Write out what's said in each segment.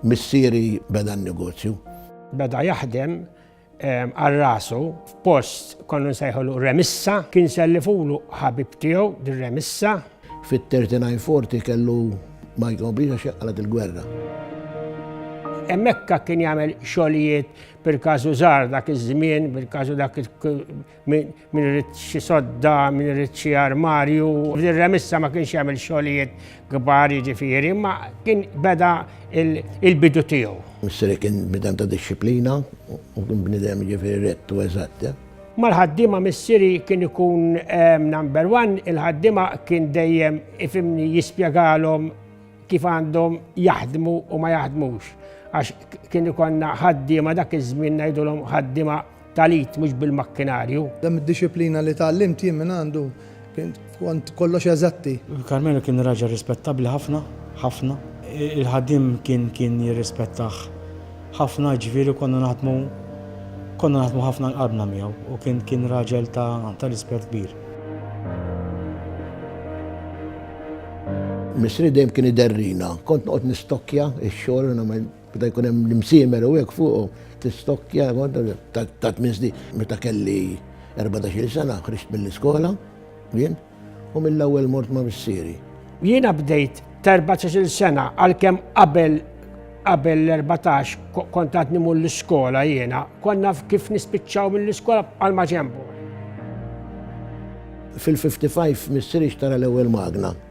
Missieri beda n-negozju. Beda jaħdem għal rasu f'post konnu nsejħulu remissa, kien sellifulu ħabib tiegħu dir-remissa. Fit-39-40 kellu ma jkomplix għax inqalgħet il-gwerra. Hemmhekk kien jagħmel xogħlijiet bil-każu żgħar dak iż-żmien, bil-każu dak min irid xi sodda, min irid xi armarju. Ir-remissa ma kienx jagħmel xogħlijiet kbar jiġifieri, ma kien beda il-bidu tiegħu. Misseri kien bidem ta' dixxiplina u kien bniedem jiġifieri rett u eżatt. Mal-ħaddiema missieri kien ikun ehm, number one, il-ħaddiema kien dejjem ifimni jispjegalhom kif għandhom jaħdmu u ma jaħdmux. Għax kien ikonna ħaddiema dak iż-żmien ngħidulhom ħaddiema tal-it mhux bil-makkinarju. Dam id-disciplina li tgħallimt jien minn għandu Kont kollox eżatti. Carmelo kien raġel rispettabbli ħafna, ħafna. Il-ħaddiem kien kien jirrispettah ħafna, jiġifieri konna naħdmu konna naħdmu ħafna l-qalbna miegħu u kien kien raġel ta' ta' rispett kbir. Missri dejjem kien iderrina. Kont noqgħod nistokkja x-xogħol u nagħmel Meta jkun hemm l-imsiemer u hekk fuqu tistokkja ta' tmien snin. Meta kelli 14-il sena ħriġt mill-iskola jien u mill-ewwel mort ma' missieri. Jiena bdejt t'14-il sena għalkemm qabel qabel l-14 kont għadni mur l-iskola jiena, konna kif nispiċċaw mill-iskola għal ma ġembu. Fil-55 missieri xtara l-ewwel magna.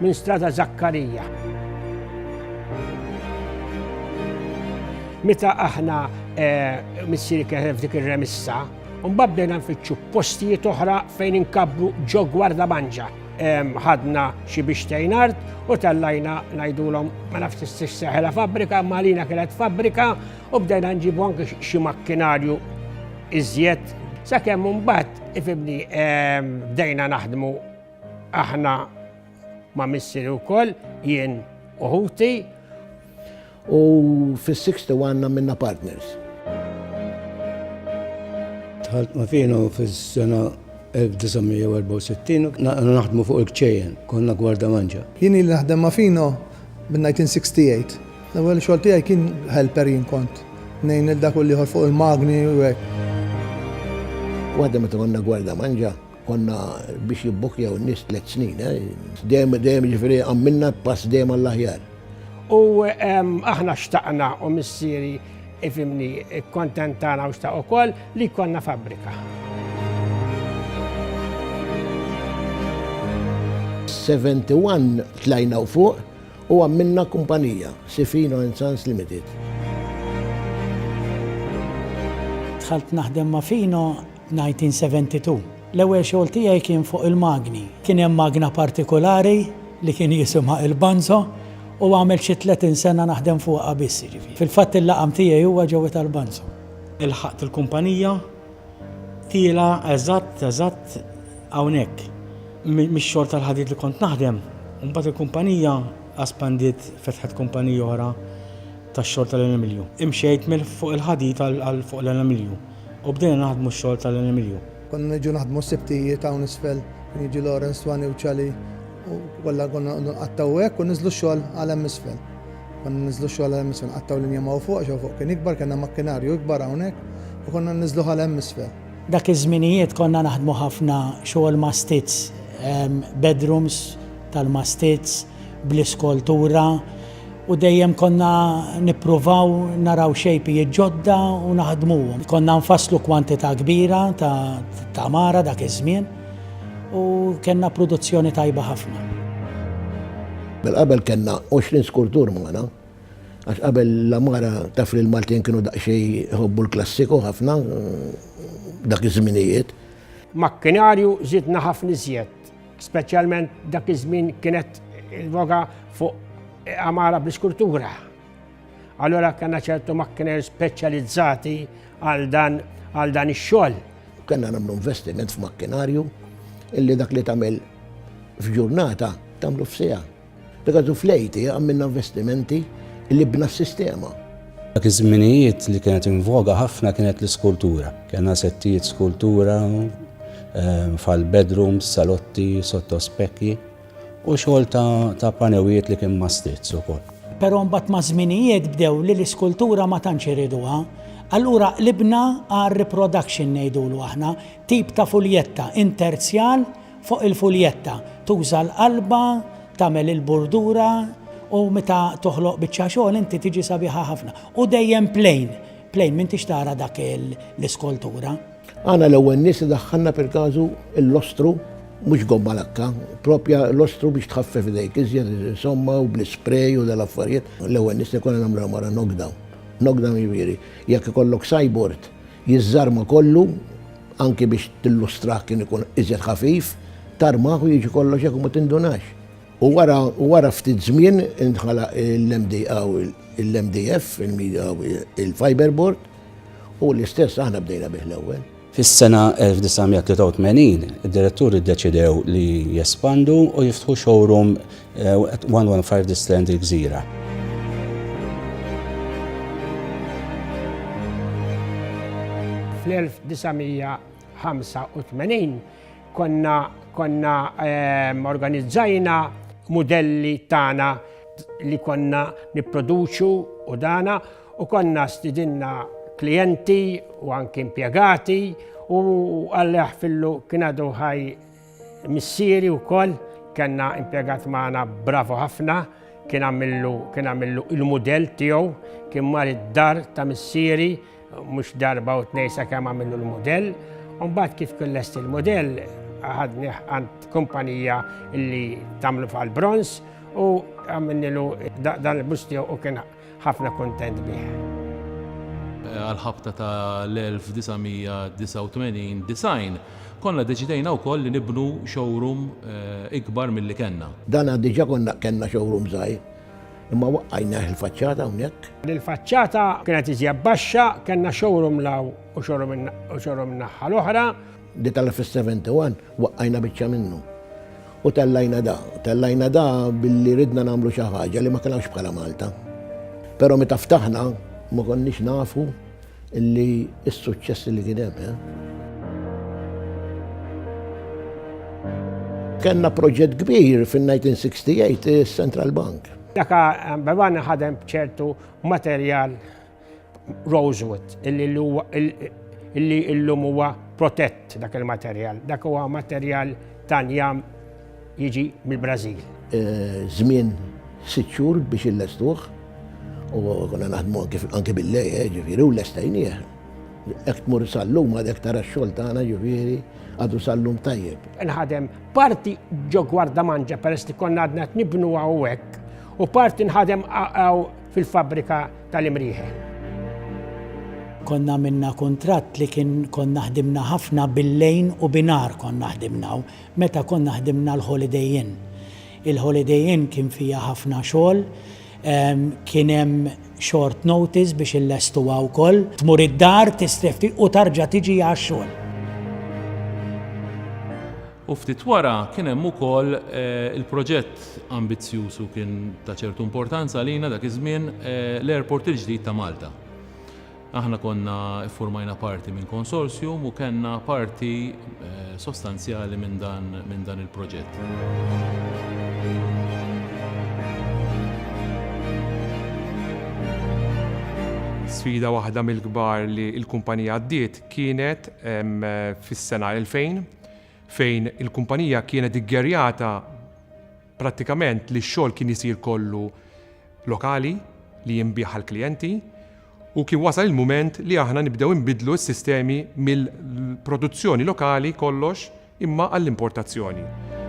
Minn Strada Zakkarija. Meta aħna eh, missieri kien f'dik ir-remissa, mbagħad bdejna nfittxu postijiet oħra fejn inkabru ġo gwarda manġa. Ħadna xi biex tejn art u tellajna ngħidulhom ma nafx tistix seħela fabbrika, ma lina kienet fabbrika u bdejna nġibu anke xi makkinarju iżjed sakemm mbagħad ifibni bdejna naħdmu Aħna ma' missieri wkoll jien u ħuti. U fis-61 għandna minna partners. Dħalt ma' Fino fis-sena 1964 naħdmu fuq il-kċejjen, konna gwarda manġa. Jien ili naħdem ma' Fino minn 1968. L-ewwel xogħol tiegħi kien helper jien kont. Ngħin lil dak u l-ieħor fuq il-magni u hekk. Waħda meta konna gwarda manġa, Konna biex jibbukkjaw n-nies tliet snin, dejjem dejjem jiġifieri għamminna pass dejjem għall-aħjar. U aħna xtaqna u missieri ifimni kontentana u xtaq ukoll li konna fabbrika. Seventy-one tlajna u fuq u għamminna kumpanija, Sifino and Sons Limited. Dħalt naħdem ma' Fino 1972. L-ewwel xogħol tiegħi kien fuq il-magni. Kien hemm magna partikulari li kien jisimha il-Banzo u għamilt xi 30 sena naħdem fuqha biss jiġifieri. Fil-fatt il-laqam tiegħi huwa ġewwa tal-Banzo. Ilħaqt il-kumpanija tiela' eżatt eżatt hawnhekk. Mix-xogħol tal-ħadid li kont naħdem, imbagħad il-kumpanija aspandiet fetħet kumpanija oħra tax-xogħol tal-aluminju. Imxejt mill-fuq il-ħadid għal fuq l-aluminju. U bdejna naħdmu x-xogħol ta' Len Emilio. Konna niġu naħdmu s-Sibtijiet hawn isfel, kien jiġi Lawrence, Twani u Ċali u kollha konna noqogħdu nqattgħu hekk u ninżlu x-xogħol għal hemm isfel. Konna ninżlu x-xogħol għal hemm isfel, nqattgħu linja ma' hawn fuq għax hawn fuq kien ikbar, kellna makkinarju ikbar hawnhekk u konna ninżluh għal hemm isfel. Dak iż-żminijiet konna naħdmu ħafna xogħol mastits, bedrooms tal-mastits, bl-iskoltura u dejjem konna nippruvaw naraw xejpijiet ġodda u naħdmuhom. Konna nfasslu kwantità kbira ta' tamara dak iż-żmien u kellna produzzjoni tajba ħafna. Qabel kellna 20 skultur magħna għax qabel l-għamara taf li l-Maltin kienu daqsxejn iħobbu l-klassiku ħafna dak iż-żminijiet. Makkinarju żidna ħafna iżjed Speċjalment dak iż-żmien kienet il-voga fuq għamara bl-iskultura. Allora kena ċertu makkiner speċjalizzati għal dan għal dan ix-xogħol. Kena nagħmlu investiment f'makkinarju illi dak li tagħmel f'ġurnata tagħmlu f'sija. Pegazu Fleiti għamilna investimenti li bna s-sistema. Dak iż-żminijiet li kienet invoga ħafna kienet l-iskultura. Kellna settijiet skultura ehm, fal-bedrooms, salotti, sotto spekki u xogħol ta' panewijiet li kien mastizz ukoll. Però mbagħad ma' żminijiet bdew li l-iskultura ma tantx iriduha. Allura qlibna għal reproduction ngħidulu aħna, tip ta' fuljetta interzjal Fuq il-fuljetta tuża l-qalba tagħmel il-burdura u meta toħloq biċċa xogħol inti tiġi sabiħa ħafna. U dejjem plain, plain m'intix tara dak l-iskoltura. Aħna l-ewwel nies li daħħalna per każu l-lostru, mhux gomma lakka, proprja lostru biex tħaffef idejk iżjed insomma u bl-isprej u dal-affarijiet. L-ewwel nies li konna nagħmluha mara knockdown. Knockdown jiġifieri jekk ikollok sajbord jiżżarma kollu, anki biex tillustrah kien ikun iżjed ħafif, tarmah u jiġi kollox hekk u ma tindunax. U wara u wara ftit żmien inħalaq il-MD hawn il-MDF, il-Media hawn il-Fiberboard, u l-istess aħna bdejna bih l-ewwel. Fis-sena 1983, id-diretturi ddeċidew li jespandu u jiftħu showroom 115 The Strand Il-Gżira. Fl-1985 konna konna ehm, organizzajna mudelli tagħna li konna nipproduċu u dana u konna stidinna klienti u anki impjegati u għalli fillu kien għadu ħaj Missieri wkoll kellna impjegat magħna bravu ħafna, kien għamillu kien għamillu il-mudell tiegħu, kien mar id-dar ta' missieri mhux darba u tnej sakemm għamillu l-mudell. U mbagħad kif kien lest il-mudell ħadni għand kumpanija li tagħmlu fal-bronz u għamilnilu dan il-bust tiegħu u kien Ħafna kuntent bih. Għall-ħabta ta' l-1989, 90, konna deċidejna wkoll li nibnu showroom ikbar milli kellna. Dana diġa konna kellna showroom żgħir, imma waqqajnieh il-faċċata hawnhekk. Il-faċċata kienet iżjed baxxa, kellna showroom 'l hawn u showroom in-naħħa l-oħra. Detalla fis-71 waqqajna biċċa minnu u tellajna da. Tellajna da billi ridna nagħmlu xi ħaġa li ma kellhomx bħala Malta. Però meta ftaħna ma konniex nafu li s-suċċess li kien hemm. Eh? Kenna proġett kbir fin-1968 is-Central Bank. Daka Bevan ħadem ċertu materjal Rosewood, illi illum huwa protett dak il-materjal. Dak huwa materjal ta' njam jiġi mill-Brażil. Żmien sitt xhur biex illestuh u konna naħdmu anke bil-lejl, eh, ġifieri, u lestajnieh. Hekk tmur sal-lum għadek tara x-xogħol tagħna ġifieri għadu sal-lum tajjeb. Nħadem parti ġo Gwardamanġa peress li konna għadna qed nibnu hawnhekk u parti nħadem fil-fabbrika tal-imrieħel. Konna għamilna kuntratt li kien konna ħdimna ħafna bil-lejn u binhar konna ħdimna u meta konna ħdimna l-Holiday Inn. Il-Holiday Inn kien fiha ħafna xogħol, kien hemm short notice biex illestuha wkoll. Tmur id-dar, tistrefti u tarġa' tiġi għax-xogħol. U ftit wara kien hemm ukoll il-proġett ambizzjuż u kien ta' ċertu importanza għalina dak iż-żmien, l-airport il-ġdid ta' Malta. Aħna konna ffurmajna parti minn konsorzjum u kellna parti sostanzjali minn dan minn dan il-proġett. Sfida waħda mill-kbar li l-kumpanija għaddiet kienet fis-sena 2000 fejn il-kumpanija kienet iggerjata prattikament li x-xogħol kien isir kollu lokali li jinbiegħ għall-klijenti u kien wasal il-mument li aħna nibdew inbiddlu s-sistemi mill-produzzjoni lokali kollox imma għall-importazzjoni.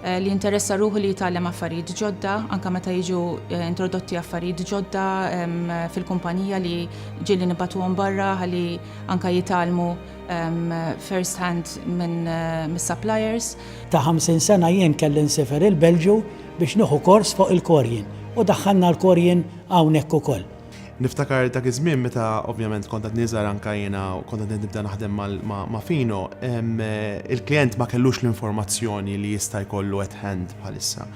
li jinteressa ruħu li jitgħallem affarijiet ġodda, anke meta jiġu eh, introdotti affarijiet ġodda fil-kumpanija li ġieli nibatuhom barra ħalli anke jitgħallmu first hand minn eh, mis-suppliers. Ta' 50 sena jien kelli nsifer il-Belġu biex nieħu kors fuq il-korjin u daħħalna l-korjin hawnhekk ukoll. Niftakar dak iż-żmien meta ovvjament kont għadni żgħar anke jiena u kont qed nibda naħdem ma' Fino, il-klijent ma kellux l-informazzjoni li jista' jkollu at hand bħalissa.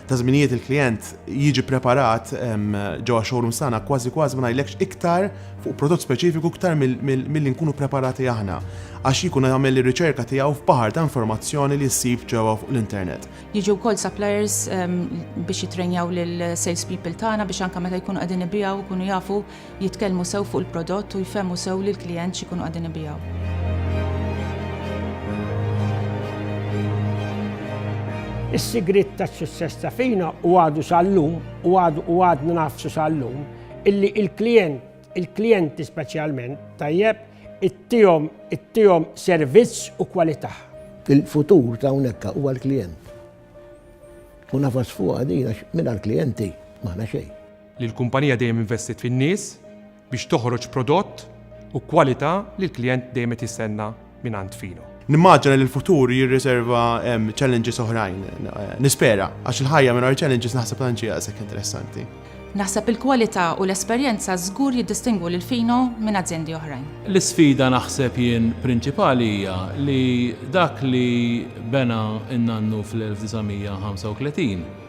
Ta' żminijiet il-klijent jiġi preparat ġewwa x-showrooms tagħna kważi kważi ma ngħidlekx iktar fuq prodott speċifiku iktar milli nkunu preparati aħna għax jkun jagħmel ir-riċerka tiegħu f'baħar ta' informazzjoni li ssib ġewwa fuq l-internet. Jiġu wkoll suppliers ehm, biex jitrejnjaw lil sales people tagħna biex anke meta jkunu qegħdin ibijaw ikunu jafu jitkellmu sew fuq il-prodott u jfehmu sew lil klient x'ikunu qegħdin ibijaw. Is-sigriet tas-sussess ta' fina u għadu sal-lum u għadu u għadna nafsu sal-lum illi il-klient il-klijenti speċjalment tajjeb, ittihom ittihom servizz u kwalità. Il-futur ta' hawnhekk huwa l-klijent. U nafas fuqha din għax mingħajr klijenti m'aħna xejn. Li l-kumpanija dejjem investiet fin-nies biex toħroġ prodott u kwalità li l-klijent dejjem qed jistenna. mingħand Fino. Nimmaġina li l-futur jirriserva challenges oħrajn, nispera, għax il-ħajja minn challenges naħseb tanċi għasek interessanti. Naħseb il-kwalità u l-esperjenza żgur jiddistingwu lil Fino minn aziendi oħrajn. L-isfida naħseb jien prinċipali hija li dak li bena n-nannu fl-1935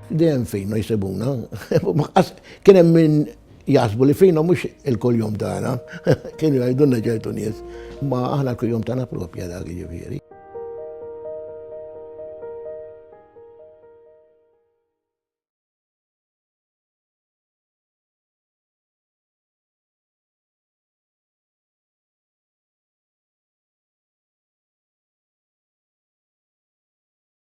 Dejjem f'Hino jsibuna. Kien hemm min jaħsbu li f'Hino mhux il-kuljum tagħna, kienu jgħidulna ċertu nies, ma aħna l-kuljum tagħna propja dak jiġifieri.